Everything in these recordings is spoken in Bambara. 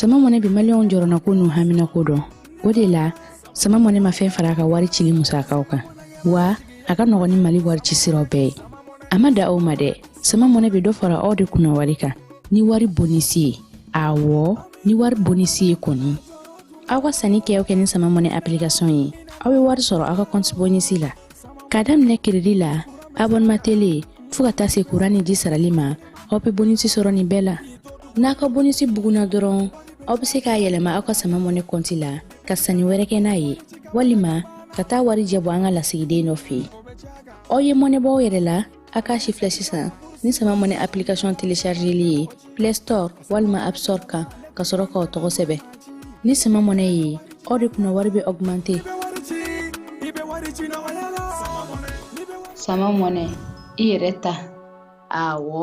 sama mɔnɛ bi maliyɛnw jɔrɔnanko n'u haminanko dɔn o de la sama mɔnɛ ma fɛn fara a ka wari cili musakaw kan wa a ka nɔgɔn ni mali wari ci siraw bɛɛ ye a ma dan o ma dɛ sama mɔnɛ bɛ dɔ fara aw de kunna wari kan ni wari bonisi ye awɔ ni wari bonisi ye kɔni aw ka sanni kɛ kɛ ni sama mɔnɛ application ye aw bɛ wari sɔrɔ aw ka kɔnti bonisi la k'a daminɛ keredi la abonema tele fo ka taa se kuran ni ji sarali ma aw bɛ bonisi sɔrɔ nin bɛɛ la n'a ka bonisi bugunna dɔrɔn aw bɛ se k'a yɛlɛma aw ka sama mɔnɛ kɔnti la ka sanni wɛrɛ kɛ n'a ye walima ka taa warijɛ bɔ an ka lasigiden dɔ fɛ yen aw ye mɔnɛ bɔ aw yɛrɛ la a k'a sifilɛ sisan ni sama mɔnɛ application téléchargeli ye play store walima app store kan ka sɔrɔ k'aw tɔgɔ sɛbɛn ni sama mɔnɛ ye aw de kunna wari bɛ augmenter sama mɔnɛ i yɛrɛ ta awɔ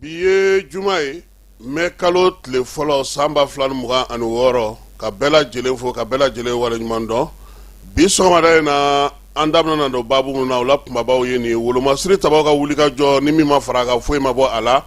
bi ye juma ye mɛ kalo tile fɔlɔ san ba fila ni mugan ani wɔɔrɔ ka bɛɛ lajɛlen fo ka bɛɛ lajɛlen waleɲuman dɔn bi sɔgɔmada in na an daminɛna don babu mun na o la kunbabaw ye nin wolomasiri tabaw ka wulikajɔ ni min ma fara a kan foyi ma bɔ a la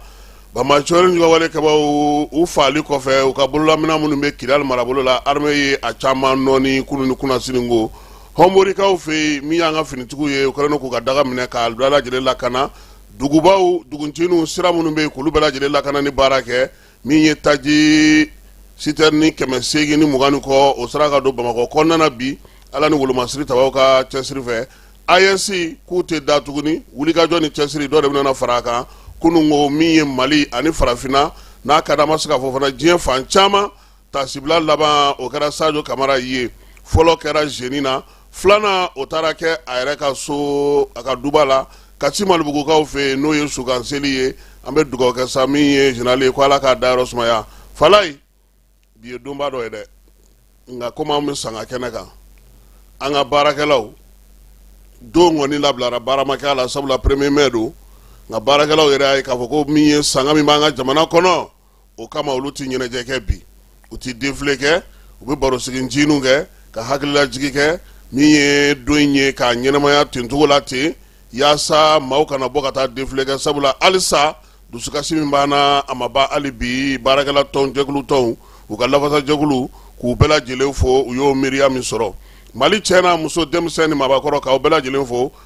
banbaanci juguwale kɛbaw u faali kɔfɛ u ka bololaminɛn minnu bɛ kidal marabolo la arme ye a caman nɔɔni kunun ni kunasinin ko hɔnborikaw fɛ yen min y'an ka finitigiw ye u kɛlen k'u ka daga minɛ k'a bɛɛ lajɛlen lakana dugubaw duguncininw sira minnu bɛ yen k'olu bɛɛ lajɛlen lakana ni baara kɛ min ye taji sitɛrini kɛmɛ segin ni mugan kɔ o sera ka don bamakɔ kɔnɔna bi ala ni wolomasiri tabaw ka cɛsiri fɛ aes k'u tɛ da tuguni wulikajɔ ni cɛsiri dɔ de bɛna fara a kan kunun ko min ye mali ani farafinna n'a ka da ma se ka fɔ fana diɲɛ fan caman tasibila laban o kɛra sajo kamara ye fɔlɔ kɛra zeni na filanan o taara kɛ a yɛrɛ ka so a ka duba la kati malibugukaw fɛ yen n'o ye sukan seli ye an bɛ dugawu kɛ sa min ye zenerali ye ko ala k'a dayɔrɔ sumaya falayi bi ye donba dɔ ye dɛ nka komi an bɛ sanga kɛnɛ kan an ka baarakɛlaw don kɔni labilara baara ma kɛ a la sabula premier mai don nka baarakɛlaw yɛrɛ y'a ye k'a fɔ ko min ye sanga min b'an ka jamana kɔnɔ o kama olu tɛ ɲɛnajɛ kɛ bi u tɛ défilé kɛ u bɛ barosigi ncininw kɛ ka hakililajigin kɛ min ye don in ye k'a ɲɛnamaya ten cogo la ten yaasa maaw kana bɔ ka taa défilé kɛ sabula halisa dusukasi min b'an na a ma ban hali bi baarakɛla tɔn jɛkulu tɔnw u ka lafasajɛkulu k'u bɛɛ lajɛlen fo u y'o miiriya min sɔrɔ mali cɛ n'a muso denmisɛn ni maabakɔrɔ k'aw bɛɛ lajɛlen fo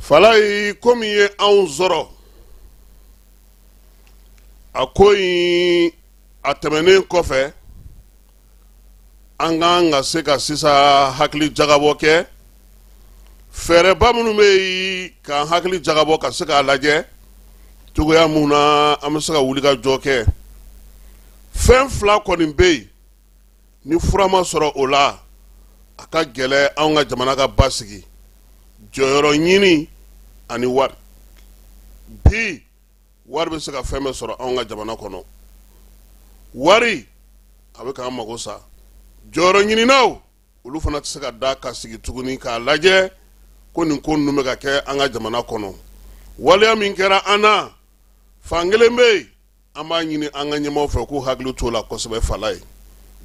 falaye ko min ye anw sɔrɔ a ko in a tɛmɛnen kɔfɛ an kan ka se ka sisan hakili jagabɔ kɛ fɛɛrɛba minnu bɛ yen k'an hakili jagabɔ ka se k'a lajɛ cogoya min na an bɛ se ka wulikajɔ kɛ fɛn fila kɔni bɛ yen ni fura ma sɔrɔ o la a ka gɛlɛn anw ka jamana ka basigi jɔyɔrɔ ɲini ani wari bi wari bɛ se ka fɛn bɛɛ sɔrɔ anw ka jamana kɔnɔ wari a bɛ k'an mago sa jɔyɔrɔ ɲininaw olu fana tɛ se ka da ka sigi tuguni k'a lajɛ ko nin ko ninnu bɛ ka kɛ an ka jamana kɔnɔ waleya min kɛra an na fan kelen bɛ yen an b'a ɲini an ka ɲɛmaaw fɛ k'u hakili t'o la kosɛbɛ falaye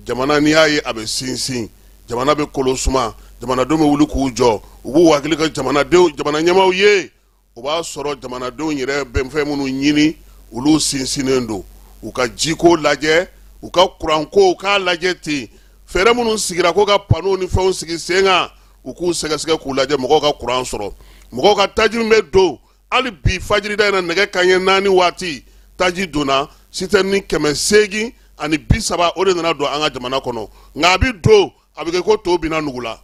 jamana n'i y'a ye a bɛ sinsin jamana bɛ kolo suma jamanadenw bɛ wuli k'u jɔ u b'u hakili kɛ jamana ɲɛmaaw ye o b'a sɔrɔ jamanadenw yɛrɛ bɛ fɛn minnu ɲini olu sinsinnen don u ka jiko lajɛ u ka kuranko u k'a lajɛ ten fɛɛrɛ minnu sigira ko ka panow ni fɛnw sigi sen kan u k'u sɛgɛsɛgɛ k'u lajɛ mɔgɔw ka kuran sɔrɔ mɔgɔw ka taji min bɛ don hali bi fajirida in na nɛgɛ kanɲɛ naani waati taji donna citerne kɛmɛ seegin ani bi saba o de nana don an ka jamana kɔnɔ nka a bi don a bɛ kɛ ko to binna nugu la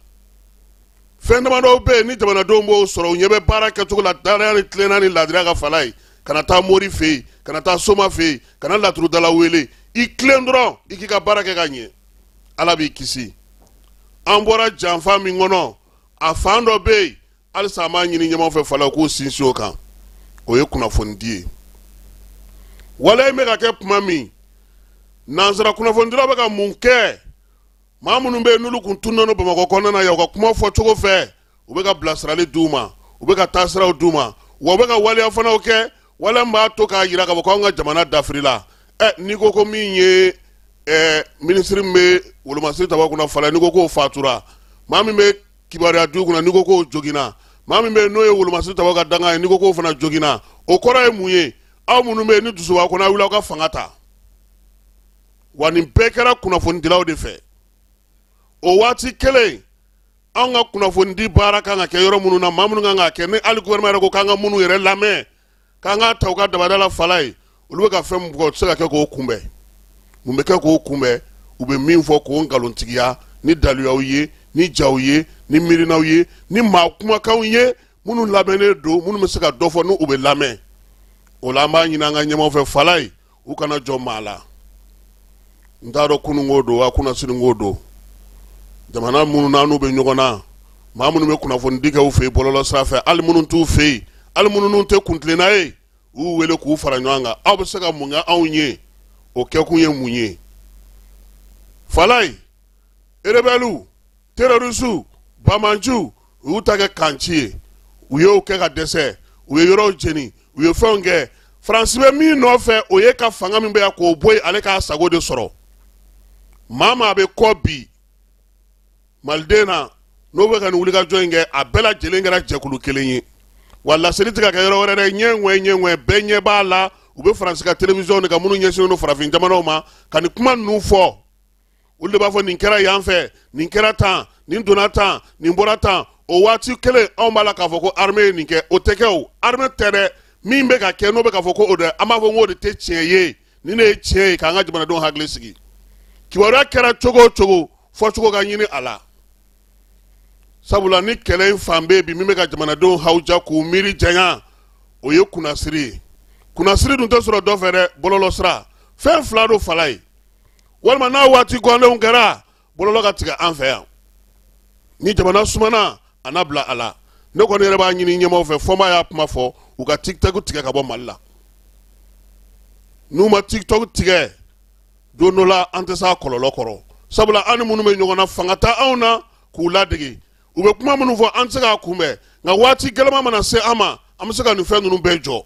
fɛn damadɔw bɛ yen ni jamanadenw b'o sɔrɔ u ɲɛ bɛ baara kɛcogo la dannaya ni tilenna ni laadiriya kan falaye kana taa mori fɛ yen kana taa soma fɛ yen kana laturudala wele i tilen dɔrɔn i k'i ka baara kɛ ka ɲɛ ala b'i kisi an bɔra janfa min kɔnɔ a fan dɔ bɛ yen halisa an b'a ɲini ɲɛmaaw fɛ fala k'u sinsin o kan o ye kunnafonidi ye waleya in bɛ ka kɛ tuma min nansara kunnafonidilaw bɛ ka mun kɛ maa minnu bɛ yen n'olu kun tunna no bamakɔ kɔnɔna na yan u ka kuma fɔ cogo fɛ u bɛ ka bilasirali d'u ma u bɛ ka taasiraw d'u ma wa u bɛ ka waleya fanaw kɛ waleya min b'a to k'a jira k'a fɔ k'anw ka jamana dafirila ɛ n'i ko ko min ye ɛɛ minisiri min bɛ wolomasiri tabaaw kunna fala n'i ko k'o fatura maa min bɛ kibaruya du kunna n'i ko k'o joginna maa min bɛ yen n'o ye wolomasiri tabaaw ka danga ye n'i ko k'o fana joginna o kɔrɔ ye mun ye aw minnu bɛ yen ni dusu b'a kɔnɔ aw wuli aw ka fanga ta wa nin bɛɛ kɛra kunnafonidilaw de fɛ o waati kelen anw ka kunnafonidi baara kan ka kɛ yɔrɔ minnu na maa minnu kan ka kɛ ni hali gouvernement yɛrɛ ko k'an ka minnu yɛrɛ lamɛn k'an k'a ta u ka dabada la falaye olu bɛ ka fɛn min bugɔ o tɛ se ka kɛ k'o kunbɛn mun bɛ kɛ k'o kunbɛn u bɛ min fɔ k'o nkalontigiya ni daluyaw ye ni jaw ye ni miirinaw ye ni maa kumakanw ye minnu lamɛnnen don minnu bɛ se ka dɔ fɔ n'u bɛ lamɛn o la an b'a ɲini an ka ɲɛmaa fɛ falaye u kana jɔn maa la n t'a dɔn kunun ko don wa kunnasini ko don jamana minnu n'anw bɛ ɲɔgɔn na maa minnu bɛ kunnafonidi kɛ u fɛ yen bɔlɔlɔsira fɛ ali minnu t'u fɛ yen ali minnu n'u tɛ kuntilenna ye u y'u wele k'u fara ɲɔgɔn kan aw bɛ se ka mun kɛ anw ye o kɛkun ye mun ye falaye erebɛliw Terroristes banbaanciw u y'u ta kɛ kan ci ye, u y'o kɛ ka dɛsɛ, u ye yɔrɔw jeni, u ye fɛnw kɛ. France bɛ min nɔfɛ, o ye ka fanga min bɛ yan k'o bɔ yen, ale k'a sago de sɔrɔ. Maa maa bɛ kɔ bi Maliden na, n'o bɛ ka nin wulikajɔ in kɛ, a bɛɛ lajɛlen kɛra jɛkulu kelen ye. Wa laseli tɛ ka kɛ yɔrɔ wɛrɛ dɛ, ɲɛ ŋɛɲɛ ɲɛ ŋɛɲɛ, bɛɛ ɲɛ b'a la, u bɛ France ka télévision de kan minnu ɲɛsinnen don farafin jamanaw ma, ka nin kuma ninnu fɔ. olu de b'a fɔ nin kɛra yan fɛ nin kɛra tan nin donna tan nin bɔra tan o waati kelen anw b'a la k'a fɔ ko arme ye nin kɛ o tɛ kɛ o arme tɛ dɛ min bɛ ka kɛ n'o bɛ k'a fɔ ko o dɛ an b'a fɔ ko o de tɛ tiɲɛ ye nin de ye tiɲɛ ye k'an ka jamanadenw hakili sigi kibaruya kɛra cogo o cogo fɔcogo ka ɲini a la sabula ni kɛlɛ in fan bɛ bi min bɛ ka jamanadenw hawuja k'u miiri janya o ye kunnasiri ye kunnasiri dun tɛ sɔrɔ dɔ fɛ dɛ bɔlɔlɔsira fɛn fila don falaye walima n'a waati gɔnlenw kɛra bɔlɔlɔ ka tigɛ an fɛ yan ni jamana sumana a na bila a la ne kɔni yɛrɛ b'a ɲini ɲɛmaw fɛ fomba y'a kuma fɔ u ka tiktok tigɛ ka bɔ mali la n'u ma tiktok tigɛ don dɔ la an tɛ se a kɔlɔlɔ kɔrɔ sabula an ni minnu bɛ ɲɔgɔn na fanga t'anw na k'u ladege u bɛ kuma minnu fɔ an tɛ se k'a kunbɛn nka waati gɛlɛma mana se an ma an bɛ se ka nin fɛn ninnu bɛɛ jɔ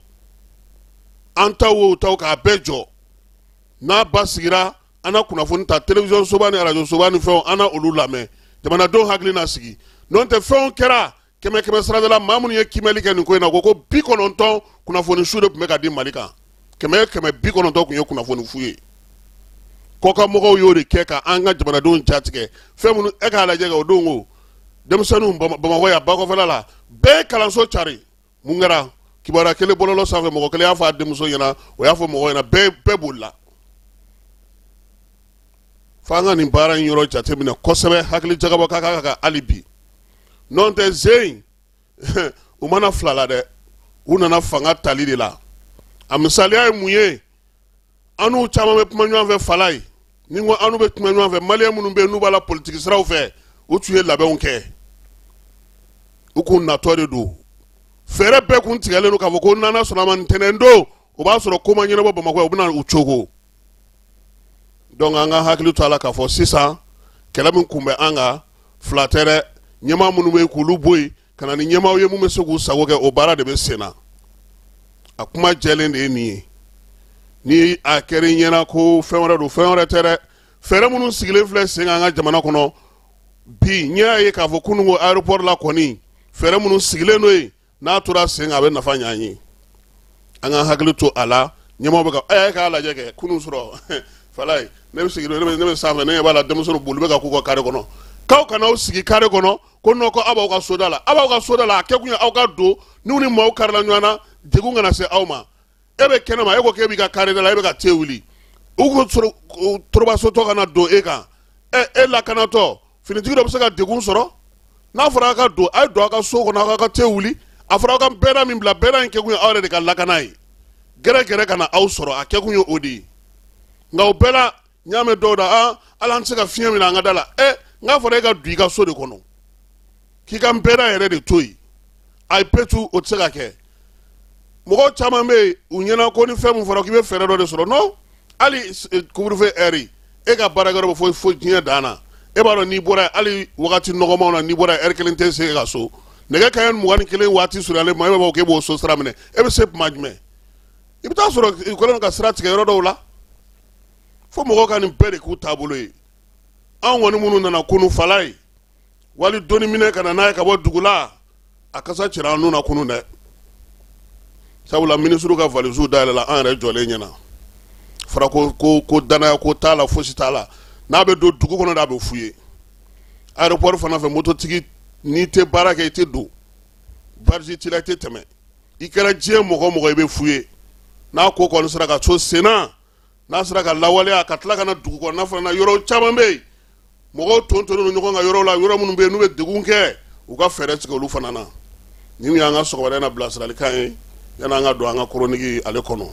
an taw o u taw k'a bɛɛ jɔ n'a basigira an na kunnafoni ta télévision soba ni radio soba ni fɛnw an na olu lamɛn jamanadenw hakili na sigi n'o tɛ fɛnw kɛra kɛmɛ kɛmɛ sarada la maa minnu ye kimɛli kɛ nin ko in na ko ko bi kɔnɔntɔn kunnafoni su de tun bɛ ka di mali kan kɛmɛ kɛmɛ bi kɔnɔntɔn tun ye kunnafoni fu ye kɔkanmɔgɔw y'o de kɛ ka an ka jamanadenw jatigɛ fɛn minnu e k'a lajɛ o don ko denmisɛnninw bamakɔ yan bakɔfɛla la bɛɛ kalanso cari mun kɛra kibaruya kelen bɔlɔlɔ sanfɛ mɔgɔ kelen y'a fɔ a denmuso ɲɛna o y'a fɔ mɔgɔ ɲɛna bɛɛ bolila fo an ka nin baara in yɔrɔ jateminɛ kosɛbɛ hakili jagabɔ ka kan ka hali bi n'o tɛ zen u ma na fila la dɛ u nana fanga tali de la a misaliya ye mun ye an n'u caman bɛ kuma ɲɔgɔn fɛ falaye ni ko an n'u bɛ kuma ɲɔgɔn fɛ maliyɛn minnu bɛ yen n'u b'a la politiki siraw fɛ u tun ye labɛnw kɛ u k'u natɔ de don fɛɛrɛ bɛɛ kun tigɛlen don k'a fɔ ko n'ala sɔnn'a ma ntɛnɛn don o b'a sɔrɔ ko ma ɲɛnabɔ bamakɔ u bɛna u cogo donc an ka hakili to a la k'a fɔ sisan kɛlɛ min kun bɛ an kan fila tɛ dɛ ɲɛmaa minnu bɛ yen k'olu bɔ yen ka na ni ɲɛmaaw ye mun bɛ se k'u sago kɛ o baara de bɛ sen na a kuma jɛlen de ye nin ye ni a kɛra i ɲɛna ko fɛn wɛrɛ don fɛn wɛrɛ tɛ dɛ fɛɛrɛ minnu sigilen filɛ sen kan an ka jamana kɔnɔ bi n y'a ye k'a fɔ kunun ko aéroport la kɔni fɛɛrɛ minnu sigilen don yen n'a tora sen kan a bɛ nafa ɲɛ an ye an ka hakili to a la ɲɛmɔgɔ bɛ ka ɛ k'a lajɛ kɛ kunun sɔrɔ falayi ne bɛ sigi ne bɛ sanfɛ ne ɲɛ b'a la denmisɛnninw boli bɛ ka k'u ka kare kɔnɔ k'aw kana aw sigi kare kɔnɔ ko non ko aw b'aw ka soda la aw b'aw ka soda la a kɛ kun ye aw ka don n'u ni maaw karila ɲɔgɔn na degun kana se aw ma e bɛ kɛnɛ ma e ko k'e b'i ka kare da la e bɛ ka te wuli u ko torobasotɔ kana don e kan ɛ e lakanatɔ finitigi dɔ bɛ se ka degun sɔrɔ n'a fɔra aw ka don a ye don aw ka so kɔnɔ aw ka te wuli a fɔra aw ka bɛɛda min bila bɛɛda in kɛkun ye aw yɛrɛ de ka lakana ye gɛrɛgɛrɛ kana aw sɔrɔ a kɛkun ye o de ye nka o bɛɛ la n y'a mɛn dɔw da ah, ala an tɛ se ka fiɲɛ minɛ an ka da la ɛ eh, n k'a fɔra e ka don i ka so de kɔnɔ k'i ka bɛɛda yɛrɛ de to yen ayi petu o tɛ se ka kɛ mɔgɔw caman bɛ yen u ɲɛna ko ni fɛn min fɔra k'i bɛ fɛɛrɛ dɔ de sɔrɔ non hali eh, couvre-feu heure e ka baarakɛyɔrɔ bɛ fo fo diɲɛ dan na e b'a dɔn n'i bɔra hali wagati nɔgɔmanw na n'i bɔra heure kelen tɛ se ka so nɛgɛ kanɲɛ mugan ni kelen waati surunyalen ma e b'a fɔ k'e b'o so sira minɛ e bɛ se tuma jumɛn i bɛ taa sɔrɔ i kɛlen ka sira tigɛ yɔrɔ dɔw la fo mɔgɔw ka nin bɛɛ de k'u taabolo ye anw kɔni minnu nana kunun falayi wali doni minɛ ka na n'a ye ka bɔ dugu la a kasa cira an nun na kunun dɛ sabula minisiriw ka valisiw dayɛlɛla an yɛrɛ jɔlen ɲɛna fara ko ko ko danaya ko t'a la fosi t'a la n'a bɛ don dugu kɔnɔ de a bɛ fouillé aéroport fana fɛ mototigi n'i tɛ baara kɛ i tɛ don badge t'i la i tɛ tɛmɛ i kɛra diɲɛ mɔgɔ o mɔgɔ i bɛ fouillé n'a ko kɔni sera ka so senna n'a sera ka lawaleya ka tila ka na dugu kɔnɔna fana na yɔrɔ caman bɛ yen mɔgɔw tontonnen don ɲɔgɔn kan yɔrɔ la yɔrɔ minnu bɛ yen n'u bɛ degun kɛ u ka fɛɛrɛ tigɛ olu fana na nin y'an ka sɔgɔmada in na bilasiralikan ye yann'an ka don an ka chronique ale kɔnɔ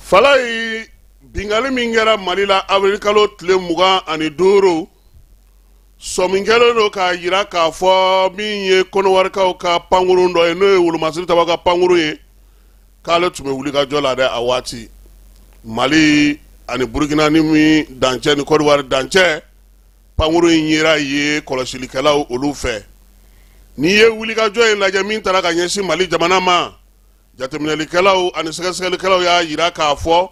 falayi bingali min kɛra mali la avril kalo tile mugan ani duuru sɔmi kɛlen don k'a jira k'a fɔ min ye kɔnɔwarikaw ka pankurun dɔ ye n'o ye wolomasiri taba ka pankurun ye k'ale tun bɛ wulikajɔ la dɛ a waati mali ani burukina ni min dancɛ ni kɔdiwari dancɛ pankurun in yera yen kɔlɔsilikɛlaw olu fɛ n'i ye wulikajɔ in lajɛ min taara ka ɲɛsin mali jamana ma jateminɛlikɛlaw ani sɛgɛsɛgɛlikɛlaw y'a jira k'a fɔ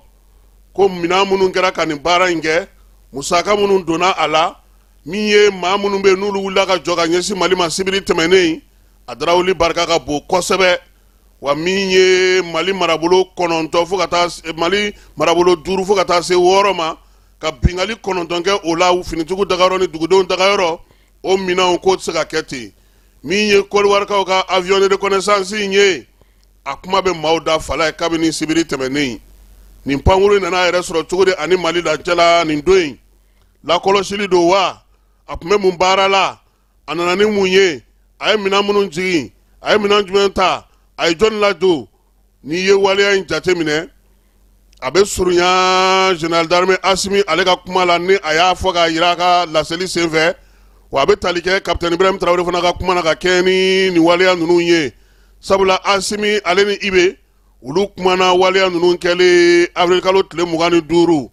ko minɛn minnu kɛra ka nin baara in kɛ musaka minnu donna a la min ye maa minnu bɛ n'olu wulila ka jɔ ka ɲɛsin mali ma sibiri tɛmɛnnen a darawuli barika ka bon kosɛbɛ wa min ye mali marabolo kɔnɔntɔn fo ka taa mali marabolo duuru fo ka taa se wɔɔrɔ ma ka bingali kɔnɔntɔn kɛ o la finitigiw dagayɔrɔ ni dugudenw dagayɔrɔ o minɛnw k'o tɛ se ka kɛ ten min ye kɔdiwarikaw ka avion de reconnaissance in ye a kuma bɛ maaw da fala ye kabini sibiri tɛmɛnen nin pankuru in nana a yɛrɛ sɔrɔ cogo di ani mali dancɛ la nin don in lakɔlɔsili don wa a tun bɛ mun baara la a nana ni mun ye a ye minɛn minnu jigin a ye minɛn jumɛn ta a ye jɔnni ladon n'i ye waleya in jateminɛ a bɛ surunya général d'armée Asimi ale ka kuma la ni a y'a fɔ k'a yira a ka laseli senfɛ wa a bɛ tali kɛ capitaine Ibrahim Traoré fana ka kuma na ka kɛɲɛ ni nin waleya ninnu ye sabula Asimi ale ni Ibe olu kumana waleya ninnu kɛlen avril kalo tile mugan ni duuru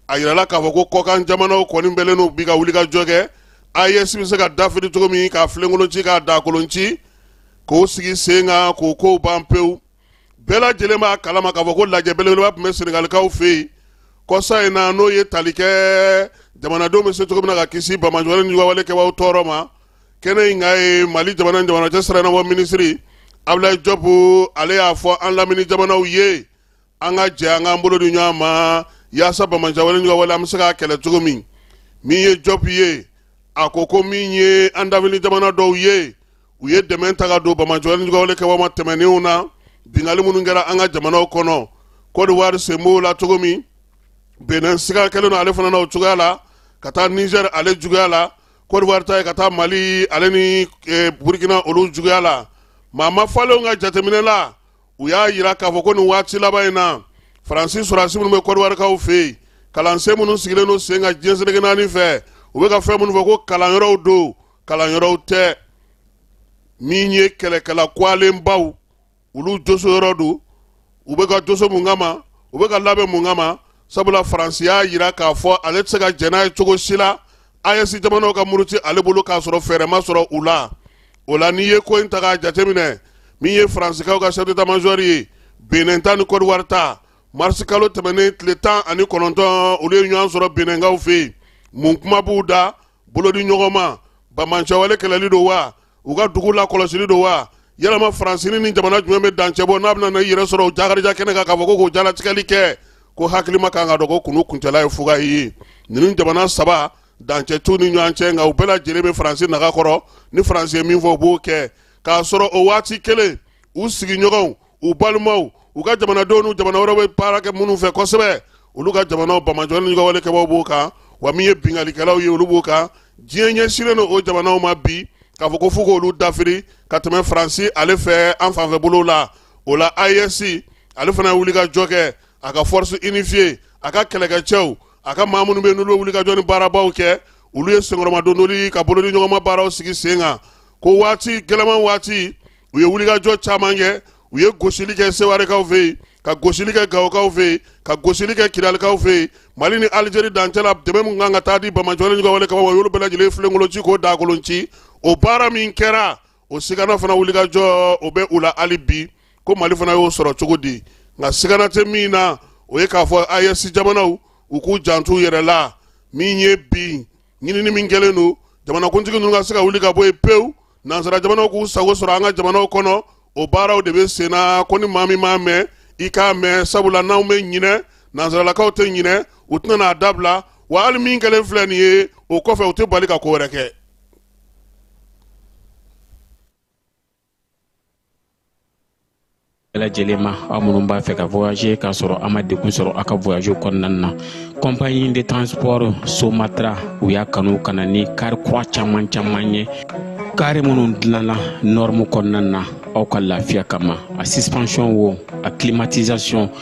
a yirala k'a fɔ ko kɔkan jamanaw kɔni bɛlen don bi ka wulikajɔ kɛ AES bɛ se ka dafiri cogo min k'a filenkolon ci k'a daakolon ci k'o sigi sen kan k'o kow ban pewu bɛɛ lajɛlen b'a kalama k'a fɔ ko lajɛ belebeleba tun bɛ senegalikaw fɛ yen kɔsa in na n'o ye tali kɛ jamanadenw bɛ se cogo min na ka kisi banbaanciwale ni ɲɔgɔnwale kɛbaaw tɔɔrɔ ma kɛnɛ in kan yen mali jamana ni jamana cɛsira ɲɛnabɔ minisiri abulayi jɔpu ale y'a fɔ an lamini jamanaw ye an ka jɛ an k'an bolo di ɲɔgɔn ma yaasa banbaanciwale an bɛ se k'a kɛlɛ cogo min min ye jɔp ye a ko ko min ye an lamini jamana dɔw ye u ye dɛmɛ ta ka don banbaanciwale kɛbaaw ma tɛmɛnenw na binkanni minnu kɛra an ka jamanaw kɔnɔ kɔdiwari sen b'o la cogo min benin siga kɛlen don ale fana na o cogoya la ka taa nizɛri ale juguya la kɔdiwari ta ye ka taa mali ale ni e, burukina olu juguya la maa ma falenw ka jateminɛ la u y'a yira k'a fɔ ko nin waati laban in na faransi sɔrɔdasi minnu bɛ kɔdiwarikaw fɛ yen kalansen minnu sigilen don sen kan diɲɛ seleke naani fɛ u bɛ ka fɛn minnu fɔ ko kalanyɔrɔw don kalanyɔrɔw tɛ min ye kɛlɛkɛla kɔgɔlenbaw olu joso yɔrɔ don u bɛ ka joso mun kama u bɛ ka labɛn mun kama sabula faransi y'a jira k'a fɔ ale tɛ se ka jɛn n'a ye cogo si la AES jamanaw ka muruti ale bolo k'a sɔrɔ fɛɛrɛ ma sɔrɔ u la o la n'i ye ko in ta k'a jateminɛ min ye faransikaw ka chef d'état major ye benin ta ni kɔdiwari ta marisi kalo tɛmɛnen tile tan ani kɔnɔntɔn olu ye ɲɔgɔn sɔrɔ beninkaw fɛ yen mun kuma b'u da bolodi ɲɔgɔn ma banbaanciwale kɛlɛli don wa u ka dugu lakɔlɔsili don wa yalama faransini ni jamana jumɛn bɛ dancɛ bɔ n'a bɛna na i yɛrɛ sɔrɔ o jakarija kɛnɛ kan k'a fɔ ko k'o jalatigɛli kɛ ko hakilima kan ka dɔn ko kulu kuncɛla ye fuga ye ninnu jamana saba dancɛ t'u ni ɲɔgɔn cɛ nka u bɛɛ lajɛlen bɛ faransi naga kɔrɔ ni faransi ye min fɔ u b'o kɛ k'a sɔrɔ o waati kelen u sigiɲɔgɔnw u balimaw u ka jamanadenw n'u jamana wɛrɛ bɛ baara kɛ minnu fɛ kosɛbɛ olu ka jamanaw bamajɔ ni ɲɔgɔn wale kɛbaw b'o kan wa min ye binkalikɛlaw ye olu b'o kan diɲɛ ɲɛsinnen don o jamanaw ma bi k'a fɔ ko fo k'olu dafiri ka tɛmɛ faransi ale fɛ an fanfɛ bolow la o la AES ale fana ye wulikajɔ kɛ a ka force unifiée a ka kɛlɛkɛcɛw a ka maa minnu bɛ yen n'olu bɛ wulikajɔ ni baarabaw kɛ olu ye senkɔrɔmadondoli ka bolodiɲɔgɔnma baaraw sigi sen kan ko waati gɛlɛman waati u ye wulikajɔ caman kɛ u ye gosili kɛ sewarekaw fɛ yen ka gosili kɛ gawokaw fɛ yen ka gosili kɛ kidalikaw fɛ yen mali ni alizeri dancɛ la dɛmɛ min kan ka taa di bamajɔ ni ɲɔgɔn wale kɛbaw y'olu bɛɛ lajɛlen filenkolonci k'o daakolonci o baara min kɛra o sigana fana wulikajɔ o bɛ u la hali bi ko mali fana y'o sɔrɔ cogo di nka sigana tɛ min na o ye k'a fɔ AES jamanaw u k'u janto u yɛrɛ la min ye bi ɲinini min kɛlen don jamanakuntigi ninnu ka se ka wuli ka bɔ yen pewu nansara jamanaw k'u sago sɔrɔ an ka jamanaw kɔnɔ o baaraw de bɛ sen na ko ni maa min m'a mɛn i k'a mɛn sabula n'anw bɛ ɲinɛ nansaralakaw tɛ ɲinɛ u tɛna n'a dabila wa hali min kɛlen filɛ nin ye o kɔfɛ u tɛ bali ka ko wɛrɛ kɛ bɛɛ lajɛlen ma aw minnu b'a fɛ ka voyager k'a sɔrɔ a ma degun sɔrɔ a ka voyage kɔnɔna na compagnie de transport somatra u y'a kanu ka na ni kari kura caman caman ye kari minnu dilanna norme kɔnɔna na aw ka lafiya kama a suspension wo a climatisation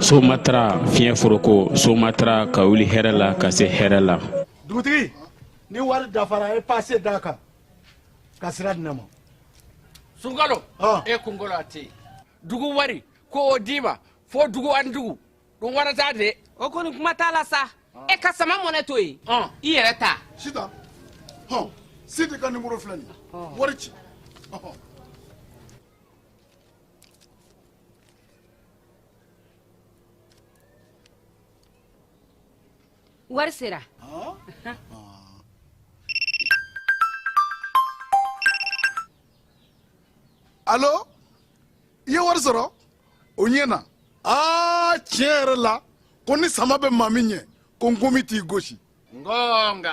somatra fiɲɛ foroko somatra ka wuli hɛrɛ la ka se hɛrɛ la dugutigi ni wari dafara e pase d'a kan ka sira di ne ma sunkalo e kunkolo a tɛ yen dugu wari ko o d'i ma fo dugu ani dugu dun wɛrɛ t'a de o kɔni kuma t'a la sa e ka sama money to yen i yɛrɛ ta sita hɔn sidi ka nimoro filɛ nin wari ci wari sera alo i ye wari sɔrɔ o ɲɛna aa tiɲɛ yɛrɛ la ko ni sama bɛ maa min ɲɛ ko nkomi t'i gosi ngonga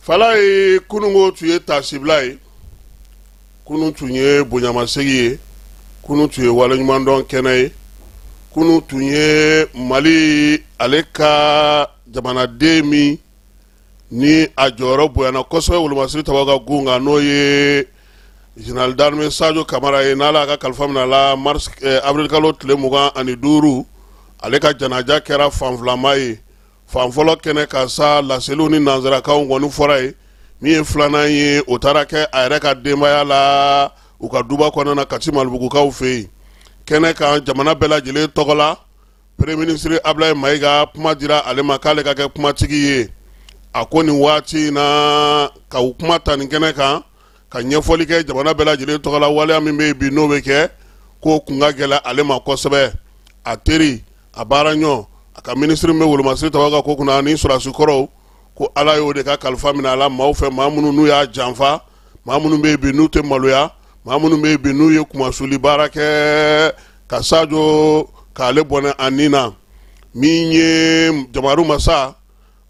fala ye kunun ko tun ye taasibila ye kunun tun ye bonyamasegin ye kunun tun ye waleɲumandɔn kɛnɛ ye kunun tun ye mali ale ka jamanaden min ni a jɔyɔrɔ bonyana kosɛbɛ wolomasiri tabaw ka gun kan n'o ye général d'armée Sadio Kamara ye n'ala ka kalifa minɛ la mars eh, avril kalo tile mugan ani duuru ale ka janaja kɛra fanfilama ye fan fɔlɔ kɛnɛ kan sa laseliw ni nansarakaw kɔni fɔra yen min ye filanan ye o taara kɛ a yɛrɛ ka denbaya la u ka duba kɔnɔna kati malibugukaw fɛ yen kɛnɛ kan jamana bɛɛ lajɛlen tɔgɔ la peremiye minisiri abilaye mayiga kuma dira ale ma k'ale ka kɛ kumatigi ye a ko nin waati in na ka u kuma ta nin kɛnɛ kan ka ɲɛfɔli kɛ jamana bɛɛ lajɛlen tɔgɔ la waleya min bɛ yen bi n'o bɛ kɛ k'o kun ka gɛlɛn ale ma kosɛbɛ a teri a baara ɲɔ a ka minisiri min bɛ wolomasiri tabaw ka ko kunna ani sɔrɔdasi kɔrɔw ko ala y'o de ka kalifa minɛ a la maaw fɛ maa minnu n'u y'a janfa maa minnu bɛ yen bi n'u tɛ maloya maa minnu bɛ yen bi n'u ye kumasuli baara kɛ ka sajo k'ale bɔnɛ a ni na min ye jabaru masa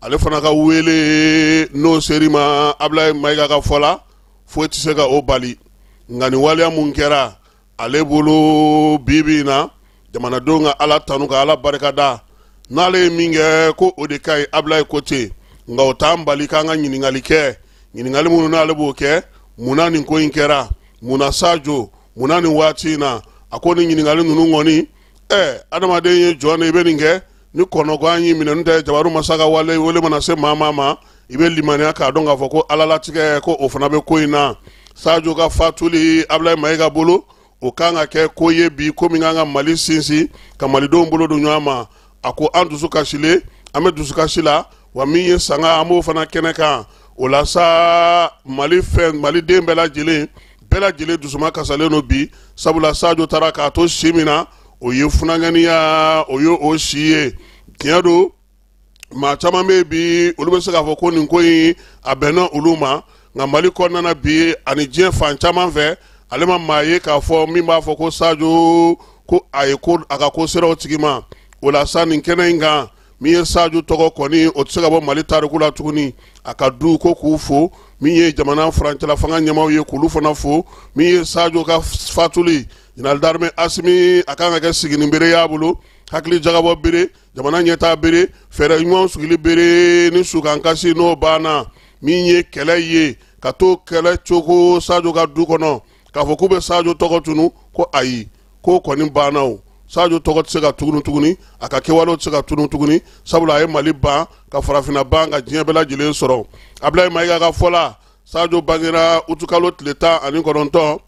ale fana ka wele n'o sera i ma abilaye mayiga ka fɔ la foyi tɛ se ka o bali nka nin waleya min kɛra ale bolo bibi in na jamanadenw ka ala tanu ka ala barika da n'ale ye min kɛ ko o de ka ɲi abilaye ko ten nka o t'an bali k'an ka ɲininkali kɛ ɲininkali minnu n'ale b'o kɛ mun na nin ko in kɛra mun na sajo mun na nin waati in na a ko nin ɲininkali ninnu kɔni ɛɛ adamaden ye jɔn de i bɛ nin kɛ ni kɔnɔgan y'i minɛ n'o tɛ jabaru masa ka wale wele mana se maa maa ma i bɛ limaniya k'a dɔn k'a fɔ ko ala latigɛ ko o fana bɛ ko in na sajo ka fatuli abulayi mayiga bolo o kan ka kɛ ko ye bi ko min kan ka mali sinsin ka malidenw bolo don ɲɔgɔn ma a ko an dusu kasilen an bɛ dusukasi la wa min ye sanga an b'o fana kɛnɛ kan o la sa mali fɛn maliden bɛɛ lajɛlen bɛɛ lajɛlen dusu makasilen don bi sabula sajo taara k'a to si min na o ye funankɛniya o ye o si ye tiɲɛ don maa caman bɛ yen bi olu bɛ se k'a fɔ ko nin ko in a bɛnna olu ma nka mali kɔnɔna bi ani diɲɛ fan caman fɛ ale ma maa ye k'a fɔ min b'a fɔ ko sajo ko a ye ko a ka ko sera o tigi ma o la sa nin kɛnɛ in kan min ye sajo tɔgɔ kɔni o tɛ se ka bɔ mali tariku la tuguni a ka du ko k'u fo min ye jamana furancɛla fanga ɲɛmaaw ye k'olu fana fo min ye sajo ka fatuli zenerali darime asimi a kan ka kɛ sigini bere y'a bolo hakili jagabɔ bere jamana ɲɛtaa bere fɛɛrɛ ɲumanw sigili bere ni sukankasi n'o banna min ye kɛlɛ ye ka to kɛlɛ cogo sajo ka du kɔnɔ k'a fɔ k'u bɛ sajo tɔgɔ tunu ko ayi k'o kɔni banna o sajo tɔgɔ tɛ se ka tunu tuguni a ka kɛwalew tɛ se ka tunu tuguni sabula a ye mali ban ka farafinna ban ka diɲɛ bɛɛ lajɛlen sɔrɔ abulayi mayiga ka fɔ la sajo bangera utukalo tile tan ani kɔnɔntɔn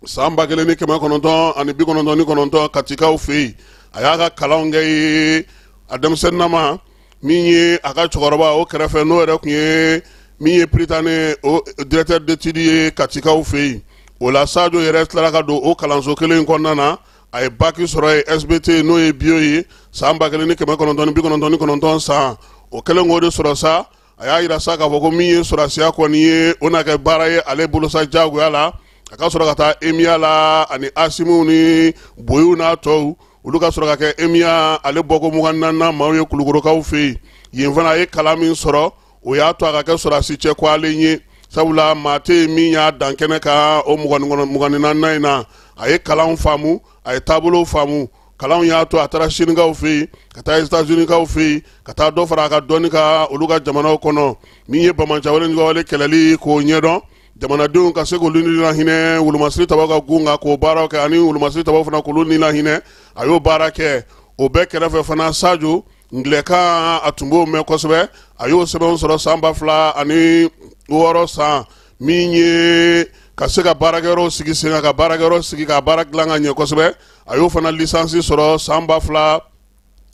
san ba kelen ni kɛmɛ kɔnɔntɔn ani bi kɔnɔntɔn ni kɔnɔntɔn katikaw fɛ yen a y'a ka kalanw kɛ yen a denmisɛnninama min ye a ka cɛkɔrɔba o kɛrɛfɛ n'o yɛrɛ tun ye min ye Prytanée o directeur d'études ye katikaw fɛ yen o la sajo yɛrɛ tilara ka don o kalanso kelen in kɔnɔna na a ye baki sɔrɔ yen sbt n'o ye biyo ye san ba kelen ni kɛmɛ kɔnɔntɔn ni bi kɔnɔntɔn ni kɔnɔntɔn san o kɛlen k'o de sɔrɔ sa a y'a yira sa k'a fɔ ko min ye sɔrɔsiya kɔni ye o na kɛ baara ye ale bolo sa jagoya la a ka sɔrɔ ka taa emiya la ani asimiw ni boyiw n'a tɔw olu ka sɔrɔ ka kɛ emiya ale bɔko mugan ni naani maaw ye kulukorokaw fɛ yen yen fana a ye kalan min sɔrɔ o y'a to a ka kɛ sɔrɔsi cɛ kɔlen ye sabula maa tɛ yen min y'a dan kɛnɛ kan o mugan ni naaninan in na a ye kalan faamu a ye taabolow faamu kalanw y'a to a taara sinikaw fɛ yen ka taa etazunikaw fɛ yen ka taa dɔ fara a ka dɔnni kan olu ka jamanaw kɔnɔ min ye banbaanciwale kɛlɛli k'o ɲɛdɔn jamanadenw ka se k'olu ni lahinɛ wolomasiri tabaw ka gun kan k'o baaraw kɛ ani wolomasiri tabaw fana k'olu ni lahinɛ a y'o baara kɛ o bɛɛ kɛrɛfɛ fana sajo angilɛkan a tun b'o mɛn kosɛbɛ a y'o sɛbɛnw sɔrɔ san ba fila ani wɔɔrɔ san min ye ka se ka baarakɛyɔrɔw sigi sen kan ka baarakɛyɔrɔ sigi ka baara dilan ka ɲɛ kosɛbɛ a y'o fana lisansi sɔrɔ san ba fila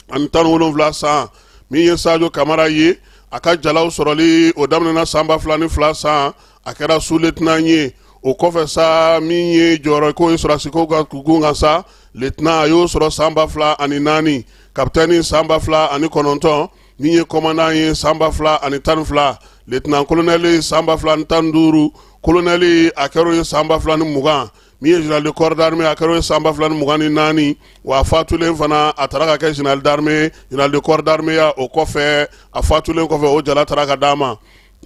ani tan wolonwula san min ye sajo kamara ye a ka jalaw sɔrɔli o daminɛna san ba fila ni fila san a kɛra suletnan ye o kɔfɛ sa min ye jɔyɔrɔko ye sɔrɔsiko ka gun kan sa letna a y'o sɔrɔ san ba fila ani naani kapitɛni san ba fila ani kɔnɔntɔn min ye kɔmandan ye san ba fila ani tan ni fila letna kolonɛli san ba fila ani tan ni duuru kolonɛli a kɛr'o ye san ba fila ni mugan min ye général de corps d'armée a kɛr'o ye san ba fila ni mugan ni naani wa a fatulen fana a taara ka kɛ général d'armée général de corps d'armée ya o kɔfɛ a fatulen kɔfɛ o jala taara ka d'a ma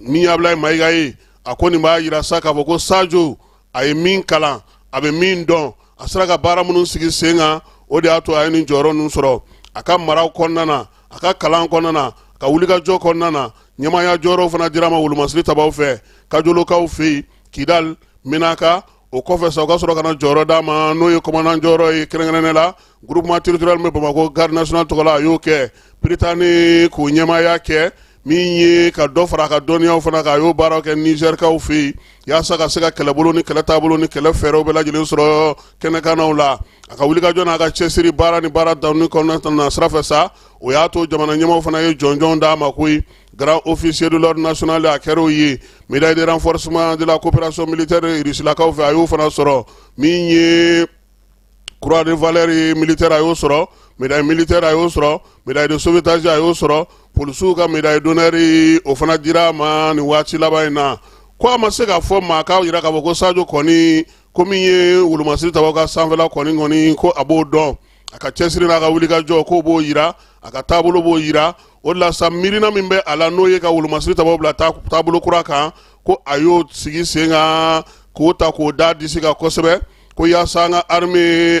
min ye abulayi mayiga ye a ko nin b'a yira sa k'a fɔ ko sajo a ye min kalan a bɛ min dɔn a sera ka baara minnu sigi sen kan o de y'a to a ye nin jɔyɔrɔ ninnu sɔrɔ a ka maraw kɔnɔna na a ka kalan kɔnɔna na a ka wulikajɔ kɔnɔna na ɲɛmaaya jɔyɔrɔw fana dir'a ma wolomasiri tabaw fɛ kajolokaw fɛ yen kidal menaka o kɔfɛ sa o ka sɔrɔ ka na jɔyɔrɔ d'a ma n'o ye kɔmandan jɔyɔrɔ ye kɛrɛnkɛrɛnnen la groupement territorial min bɛ bamakɔ garde nationale tɔgɔ la a y'o kɛ Prytanée k'o ɲɛmaaya kɛ min ye ka dɔ fara a ka dɔnniyaw fana kan a y'o baaraw kɛ nizɛrikaw fɛ yen yaasa ka se ka kɛlɛbolo ni kɛlɛ taabolo ni kɛlɛ fɛɛrɛw bɛɛ lajɛlen sɔrɔ kɛnɛkannaw la a ka wulikajɔ n'a ka cɛsiri baara ni baara danni kɔnɔna na sira fɛ sa o y'a to jamana ɲɛmaaw fana ye jɔnjɔn d'a ma koyi Grand officier de l'ordre national a kɛra o ye médaille de renforcement de la coopération militaire Rusilakaw fɛ a y'o fana sɔrɔ min ye croix de valeur ye militaire a y'o sɔrɔ médaille militaire a y'o sɔrɔ médaille de sauvetage a y'o sɔrɔ polisiw ka médaille d'honneur o fana dira a ma nin waati laban in na ko a ma se k'a fɔ maa k'a yira k'a fɔ ko Sajo kɔni ko min ye wolomasiri tabaw ka sanfɛla kɔni kɔni ko a b'o dɔn a ka cɛsiri n'a ka wulikajɔ k'o b'o yira a ka taabolo b'o yira o de la sa miirina min bɛ a la n'o ye ka wolomasiri tabaw bila taabolo kura kan ko a y'o sigi sen kan k'o ta k'o da disi kan kosɛbɛ ko yaasa an ka armée